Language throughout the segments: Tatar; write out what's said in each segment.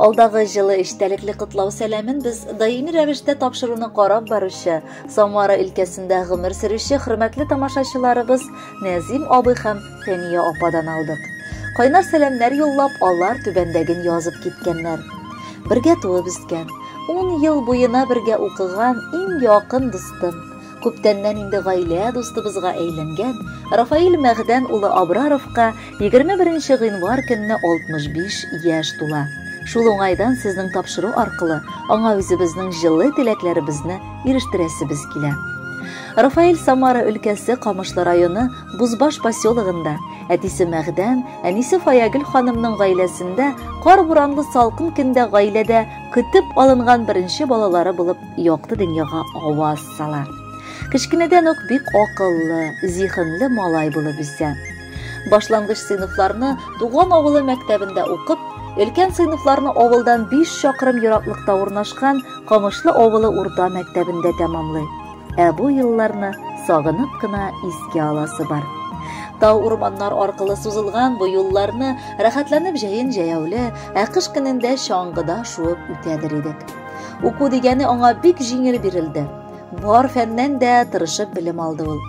Алдагы җылы эчтәлекле котлау сәламен без даими рәвештә тапшыруны карап баручы, Самара өлкәсендә гомер сөрүче хөрмәтле тамашачыларыбыз Нәзим абый һәм Фәния ападан алдык. Кайнар сәламнәр юллап, алар түбәндәген язып киткәннәр. Бергә туып үскән, 10 ел буена бергә укыган иң якын дустым, Күптәннән инде гаилә дустыбызга әйләнгән Рафаил Мәгъдән улы Абраровка 21 гыйнвар көнне 65 яшь тула. Шул уңайдан сезнең тапшыру аркылы аңа үзебезнең җылы теләкләребезне ирештерәсебез килә. Рафаил Самара өлкәсе Камышлы районы Бузбаш поселогында, әтисе Мәгъдән, әнисе Фаягөл ханымның гаиләсендә кар буранлы салкын көндә гаиләдә көтеп алынган беренче балалары булып якты дөньяга аваз сала. Кечкенәдән үк бик акыллы, зиһенле малай булып үсә. Башлангыч сыйныфларны туган авылы мәктәбендә укып, өлкән сыйныфларны авылдан 5 чакрым ераклыкта урнашкан Камышлы авылы урта мәктәбендә тәмамлый. Ә бу елларны сагынып кына искә аласы бар. Тау урманнар аркылы сузылган бу юлларны рәхәтләнеп җәен җәяүле, ә кыш көнендә чаңгыда шуып үтәдер идек. Уку дигәне аңа бик җиңел бирелде. Бар фәннән дә тырышып белем алды ул.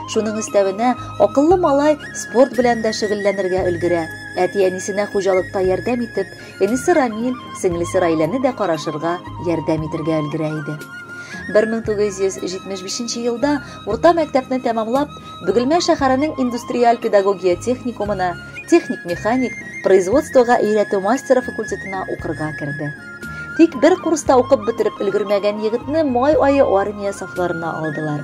Шуның өстәвенә акыллы малай спорт белән дә шөгыльләнергә өлгерә. Әти-әнисенә хуҗалыкта ярдәм итеп, энесе Рамил, сеңлесе Райләне дә карашырга, ярдәм итергә өлгерә иде. 1975 елда урта мәктәпне тәмамлап, Бөгелмә шәһәренең индустриаль педагогия техникумына, техник-механик, производствога өйрәтү мастеры факультетына укырга керде. Тик бер курста укып бетереп өлгермәгән егетне май ае армия сафларына алдылар.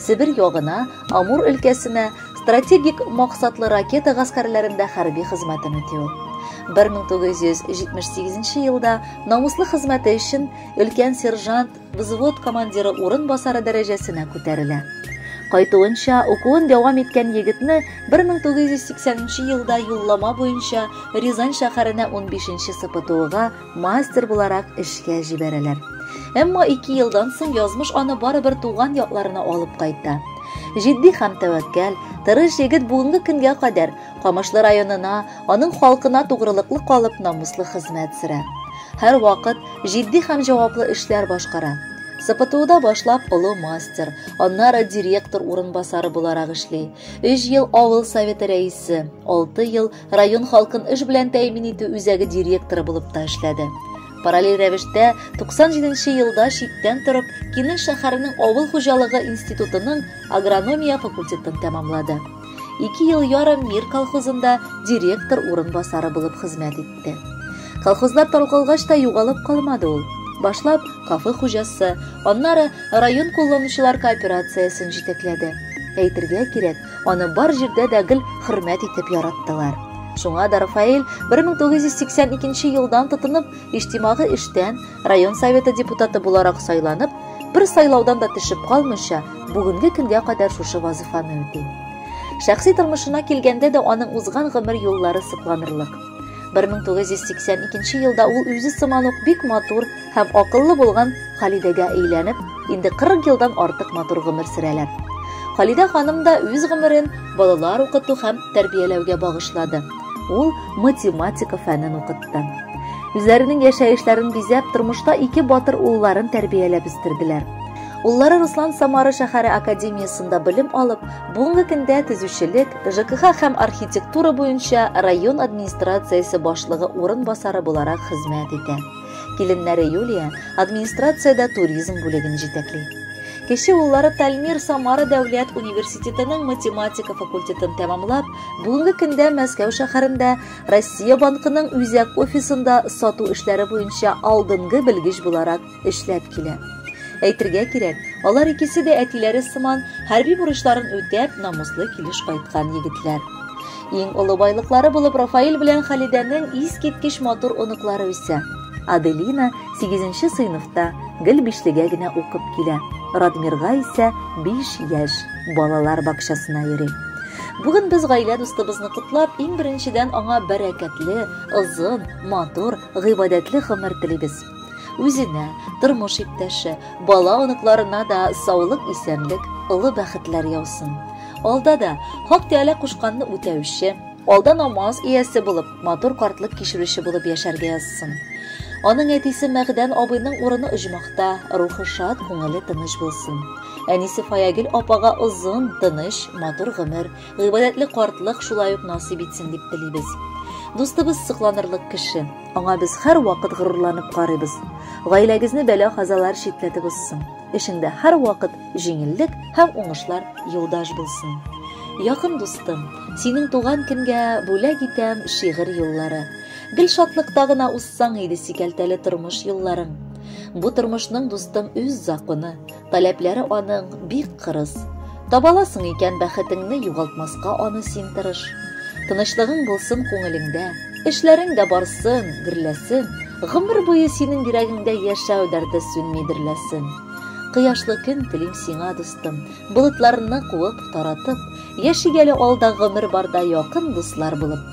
Себер ягына, Амур өлкәсенә стратегик максатлы ракета гаскәрләрендә хәрби хезмәтен үти ул. 1978 елда намуслы хезмәте өчен өлкән сержант взвод командиры урынбасары дәрәҗәсенә күтәрелә. Кайтуынча, укуын дәвам иткән егетне 1980 елда юллама буенча Рязань шәһәренә 15 СПТУга мастер буларак эшкә җибәрәләр. Әмма 2 елдан соң язмыш аны барыбер туган якларына алып кайта. Җитди һәм тәвәккәл, тырыш егет бүгенге көнгә кадәр Камышлы районына, аның халкына тугрылыклы калып намуслы хезмәт сөрә. Һәр вакыт җитди һәм җаваплы эшләр башкара. СПТУда башлап олы мастер, аннары директор урынбасары буларак эшли. Өч ел авыл советы рәисе, алты ел район халкын эш белән тәэмин итү үзәге директоры булып та эшләде. Параллель рәвештә 97 елда читтән торып Кинел шәһәренең авыл хуҗалыгы институтының агрономия факультетын тәмамлады. Ике ел ярым Мир колхозында директор урынбасары булып хезмәт итте. Колхозлар таркалгач та югалып калмады ул. Башлап кафе хуҗасы, аннары район кулланучылар кооперациясен җитәкләде. Әйтергә кирәк, аны бар җирдә дә гел хөрмәт итеп яраттылар. Шуңа да Рафаэль 1982 елдан тотынып, иҗтимагый эштән, район советы депутаты буларак сайланып, бер сайлаудан да төшеп калмыйча, бүгенге көнгә кадәр шушы вазифаны үти. Шәхси тормышына килгәндә дә аның узган гомер юллары сокланырлык. 1982 елда ул үзе сыман ук бик матур һәм акыллы булган Халидәгә әйләнеп, инде 40 елдан артык матур гомер сөрәләр. Халидә ханым да үз гомерен балалар укыту һәм тәрбияләүгә багышлады. Ул математика фәнен укытты. Үзләренең яшәешләрен бизәп, тормышта ике батыр улларын тәрбияләп үстерделәр. Уллары Руслан Самара шәһәре академиясендә белем алып, бүгенге көндә төзүчелек, ЖКХ һәм архитектура буенча район администрациясе башлыгы урынбасары буларак хезмәт итә. Киленнәре Юлия администрациядә туризм бүлеген җитәкли. Кече уллары Тальмир Самара дәүләт университетының математика факультетын тәмамлап, Бүгенге көндә Мәскәү шәһәрендә Россия банкының үзәк офисында сату эшләре буенча алдынгы белгеч буларак эшләп килә. Әйтергә кирәк, алар икесе дә әтиләре сыман хәрби бурычларын үтәп, намуслы килеш кайткан егетләр. Иң олы байлыклары булып Рафаэль белән Халидәнең искиткеч матур оныклары үсә. Аделина сигезенче сыйныфта, гел бишлегә генә укып килә. Радмирга исә биш яшь, балалар бакчасына йөри. Бүген без гаилә дустыбызны котлап, иң беренчедән аңа бәрәкәтле, озын, матур, гыйбадәтле гомер телибез. Үзенә, тормыш иптәше, бала оныкларына да саулык, исәнлек, олы бәхетләр яусын. Алда да Хак Тәгалә кушканны үтәүче, алда намаз иясе булып, матур картлык кичерүче булып яшәргә язсын. Аның әтисе Мәгъдән абыйның урыны оҗмахта, рухы шат, күңеле тыныч булсын. Әнисе Фаягил апага озын, тыныч, матур гомер, гыйбадәтле картлык шулай ук насыйп итсен дип телибез. Дустыбыз сокланырлык кеше. Аңа без һәрвакыт горурланып карыйбыз. Гаиләгезне бәла-казалар читләтеп узсын. Эшеңдә һәрвакыт җиңеллек һәм уңышлар юлдаш булсын. Якын дустым, синең туган көнгә бүләк итәм шигырь юллары. Гел шатлыкта гына узсаң иде сикәлтәле тормыш юлларың. Бу тормышның дустым үз законы, таләпләре аның бик кырыс. Табаласың икән бәхетеңне югалтмаска аны син тырыш. Тынычлыгың булсын күңелеңдә, эшләрең дә барсын, гөрләсен, гомер буе синең йөрәгеңдә яшәү дәрте сүнми дөрләсен. Кояшлы көн телим сиңа, дустым, болытларны куып, таратып, яши әле алда гомер барда якын дуслар булып.